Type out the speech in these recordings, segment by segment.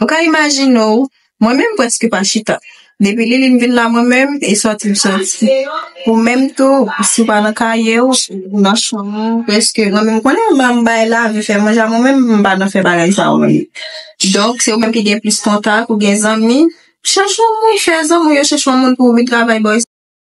Ou ka imajine w, mwen menm prèske pa chita. Depi Liline vin la mwen menm, e sòti m sòti. Ou menm tou, si w pa nan kaye w, ou nan chanm ou prèske. Mwen menm konnen m an bay lavi fè manje a mwen menm, m pa nan fè bagay sa yo menm. Donk, se ou menm ki gen plis kontak, ou gen zanmi, chèche yon moun, fè zanmi w yo chèche yon moun pou w vin travay ba yo.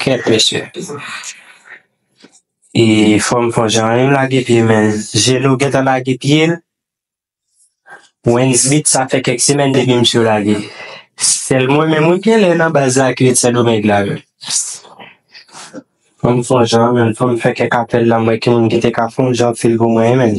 Kèt mesye. E fanm fò jan yo lage pye men Geno gentan lage pyel Wens beat sa fè kèk semèn depi misye lage sèl mwen menm wi genlè nan baz la ki ret sendomeng la menm Fanm fò jan menm fòm fè kèk apèl la m wè ki moun ki te ka fon jan fil pou mwen menm.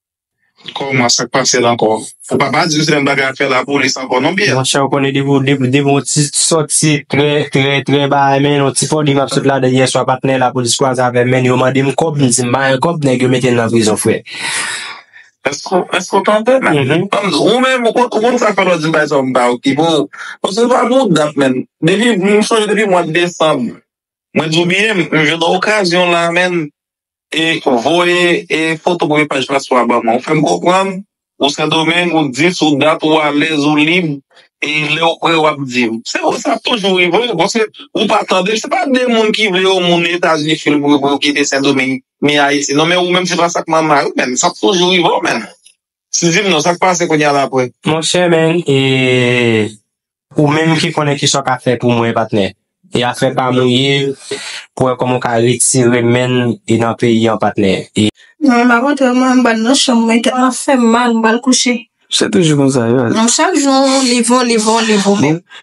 Kòman sak pasel ankò. Ou pa pa diw se menm bagay ap fè la polis ankò non Pierre. Monchè ou konnen depi ou depi depi yon ti sòti trè trè trè bagay men yon ti foli map sot ladann yèswa patnè lapolis kwaze avèm men yo mandem kòb m di m pa gen kòb nèg yo metem nan prizon frè. Eske w eske w tande menm ou menm ou konn sa fè lè w di m bay sa w m pa okipe w paske ou pa gen yon dat menm depi m sonje depi mwa desanm mwen di w biyem m jwenn yon okazyon la menn E voye e foto premye paj la swa ban mwen. Ou fèm konprann ou sendomeng ou di sou dat ou alèz ou lib e lèw prè wap dim. Se vre sa ap toujou rive paske ou pa tande se pa de moun ki vle yon moun etazini fil pou yo kite sendomeng ni ayiti non men ou menm se pa sak manman yo menm sa ap toujou rivew menm. Steeven non sak pase kounya la apre. Monchè men e ou menm ki konnen kisa w ka fè pou mwen patnè e afè pam ou ye pou wè kòman w ka retire menn e nan peyi an patnè e. Non m pa montre w mwen bal nan chanm mwen tèt lan fèm mal m bal kouche. Se toujou konsa yo. Non chak jou li vo li vo li vo menm.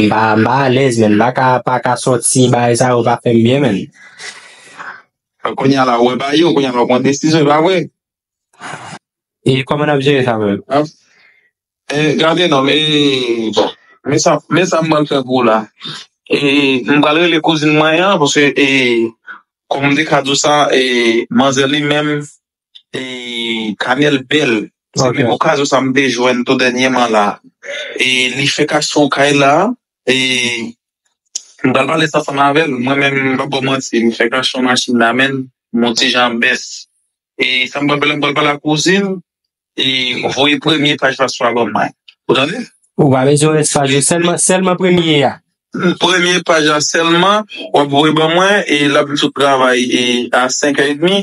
M pa m pa alèz menn m paka paka sòti bagay sa yo pa fèm byen menn. Bon kounya la ou wè bagay yo kounya la ou pran desizyon epa vre. E kòman nap jere sa menm. Ap e gade nonm e bon men sa men sa m pral fè pou ou la e m pral rele kouzin mwen an paske e kòm m te ka di w sa e manzè li menm E kanèl bèl se menm okazyon sa mte jwenn tou dènyeman la e li fè kason kay la e mpral pale sa san mavel mwen menm mpap baw manti m fè kason machin la menn mon ti jan bès e sa mpral pale mpral pale a kouzin e voye premye paj la swa ban mwen ou tande ou pa bezwen rès paj yo selman selman premye a premye paj la selman wap voye ban mwen e lap sot travay e a 5 è edmi.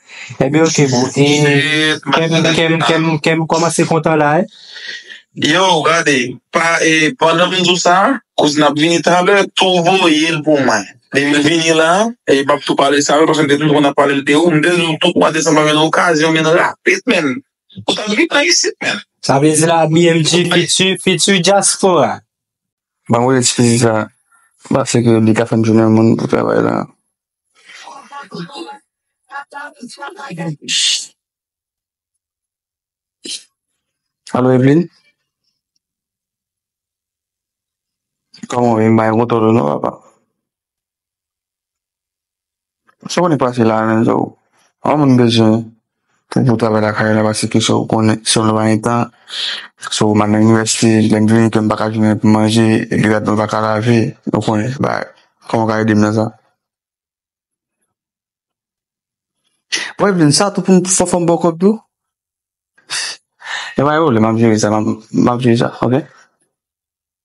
Ebyen ok bro e kem kem kem komanse kontan la e. Yo gade pa e pandan m di w sa kouzin ap vini talè tou voye l pou mwen depi l vini la e m pap tou pale sa yo paske m te toujou konn ap pale l de ou m te di w tout mwa desanm pa gen okazyon vin rapid menn ou ta dwe vin isit menn Sa vle di la BMG fiti fiti dyaspora Ban mwen eskize sa paske li ka fè m jounen moun pou travay la. Alo Evelyne Koman ou ye m pa gen kontòl ou non papa Sa w konn pase la menm tou An moun bezwen Pou pou travay lakay la pase ke sou konnen sou lwa entan sou manan inivèsti lèm vini kèm baka jounen pou manje li rad mwen baka lave ou konnen ba koman ka edem nan sa. Bon epi sa tou pou fò fòm bò kòb tou e bay ou lè map jere sa map jere sa ok.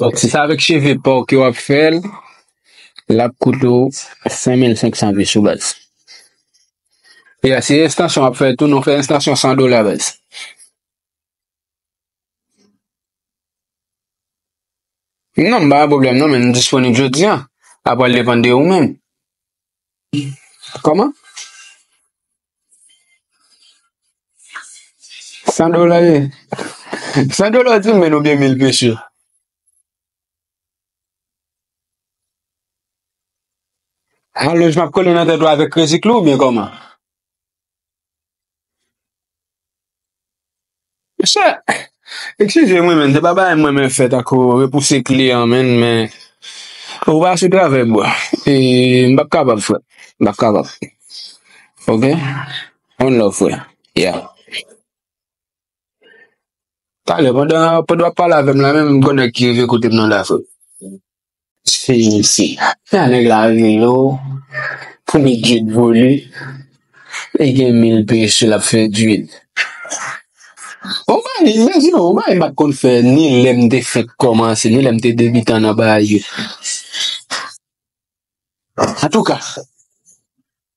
Donk si se avèk cheve pa w ke w ap fè l, l ap koute w 5500 goud sou baz. E si se estansyon w ap fè tou, nou fè estansyon 100 dola baz. Non, m pa gen pwoblèm non, men m disponib jodi an. Sa pral depann de ou menm. Kòman? San dola ye? San dola ou di men ou byen mil peche? Ha loj map kole nan tèt ou avèk kredi klou ou byen kòman? Mesye ekskizem wi men se pa bagay m renmen fè tankou repouse kliyan men men ou pa sou travèy bro e m pap kapab frè m pap kapab ok one love frè yeah talè pandan wap pale avèm la menm m gen nèg ki rive kotem nan la frè. Seyise. Sa nèg la vle yo pou li djed vole li gen mil peche lap fè djed. Yon bagay men di nou yon bagay m pat konn fè ni lèm te fenk kòmanse ni lèm te debitan nan bagay yo antouka.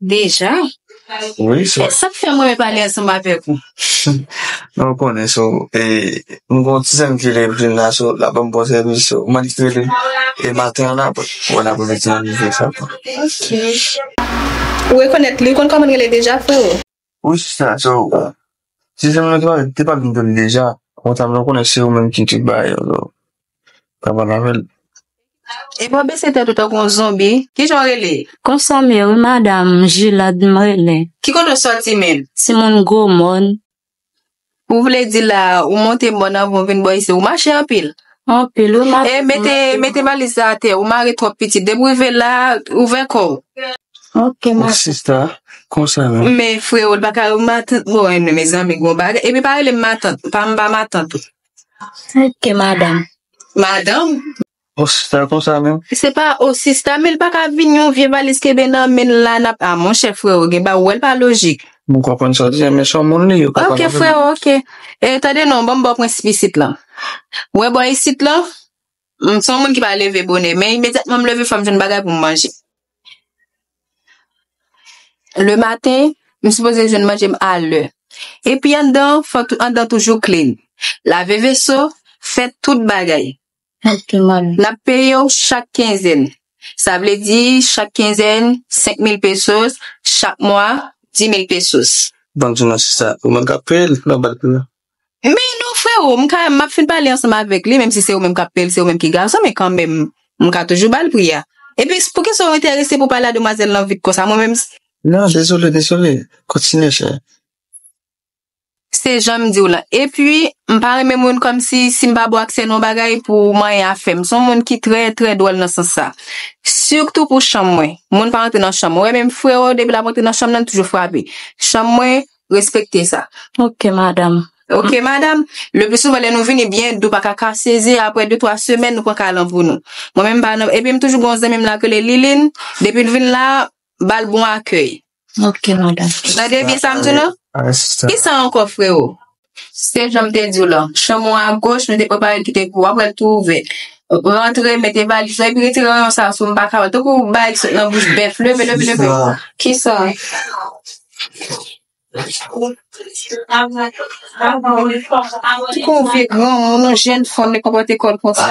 Deja? Wi sa. Sa k fè m renmen pale ansanm avèk ou? Men ou konnen so, e m gen yon ti zanmi ki rele Evelyne la so, l ap ban m bon sèvis so, mande l pou rele m e maten an apre. Wè n apremidi an li vle fè l. Ok. Ou rekonèt li? Ou konn kòman l rele deja freo? Wi sista so si zanmi nou tap te pap vin jwenn deja ou ta vle konnen se ou menm ki te bay yo so pa pale avèl. Epi wap bese tèt ou tankou yon zonbi, kijan w rele? Konsa m ye wi madam, Jilad m rele. Ki kote w soti menm? Timoun gwo mòn, Ou vle di la ou monte mòn anvan ou vin bò isi ou mache anpil? Anpil wi map. E mete mete valiz la atè ou mare twòp pitit depi ou rive la ouvè kò w. Ok ma. Bon sista konsa la. Men freo li paka rele matant mwen non mezanmi gon bagay epi pa rele m matant pa m pa matant ou. Ok madam. Madam? Bon sista konsa menm. Se pa oh sista men li pa ka vin yon vye valiz kenbe nan menl la nap ah monchè freo gen bagay ou wèl pa lojik. M konprann sa w di a men son moun li yo ka pa konprann. Ok freo ok eh tande non banm baw prensip isit lan ou wè bò isit lan m son moun ki pa leve bonè men imedyatman m leve fòm jwenn bagay poum manje le maten m sipoze jwenn manje m a lè epi anndan an fòk anndan an toujou klin lave veso fè tout bagay N ap peye w chak kenzèn. Sa vle di chak kenzèn 5000 pesos, chak mwa 10000 pesos. Bank di nou se sa. Ou menm k ap peye l nan bank li a. Men non freo, m ka, m ap fin pale ansanm avèk li, menmsi se ou menm k ap peye l, se ou menm ki gason, men kanmenm m ka toujou ba l pri a. Epi, poukisa ou enterese pou w pale a demwazèl lan vit konsa? Mwen menm. Non, dezole, dezole. Kontinye chè. Se janm diw lan. Epi, m pa renmen moun kòmsi si m pa ba w aksè nan yon bagay pou w manyen afè m. M se yon moun ki trè, trè dwòl nan sans sa. Sitou pou chanm mwen. Moun pa rantre nan chanm mwen. Ou wè menm freo, depi l ap rantre nan chanm nan, li toujou frape. Chanm mwen, respekte sa. Ok madam. Ok madam. Le pli souvan lè nou vini biyè nou pa ka kase ze aprè de twa semèn nou pran kay lan pou nou. Mwen menm m pa nan, epi m toujou gen yon zanmi m la k rele Liline, depi l vin la, ba l bon akèy. Ok madan. Tande byen sa m di w la? Asta. Ki sa ankò freo? Se jan m te di w la. Chanm ou a goch, nou te prepare l ki te pou w ap wè l tou ouvè. Rantre, mete valiz ou epi retire ranyon sa sou m m pa ka wè l. Tankou bagay ki sot nan bouch bèf. Leve, leve, leve. Ki sa? Tankou yon vye granmoun, yon jèn fanm li konpòte kò l konsa.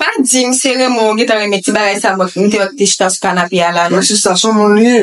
Pa di m se renmen w ou gentan renmen ti bagay sa m te wè ki te chita sou kanape a la non. Mwen si sa son moun li ye.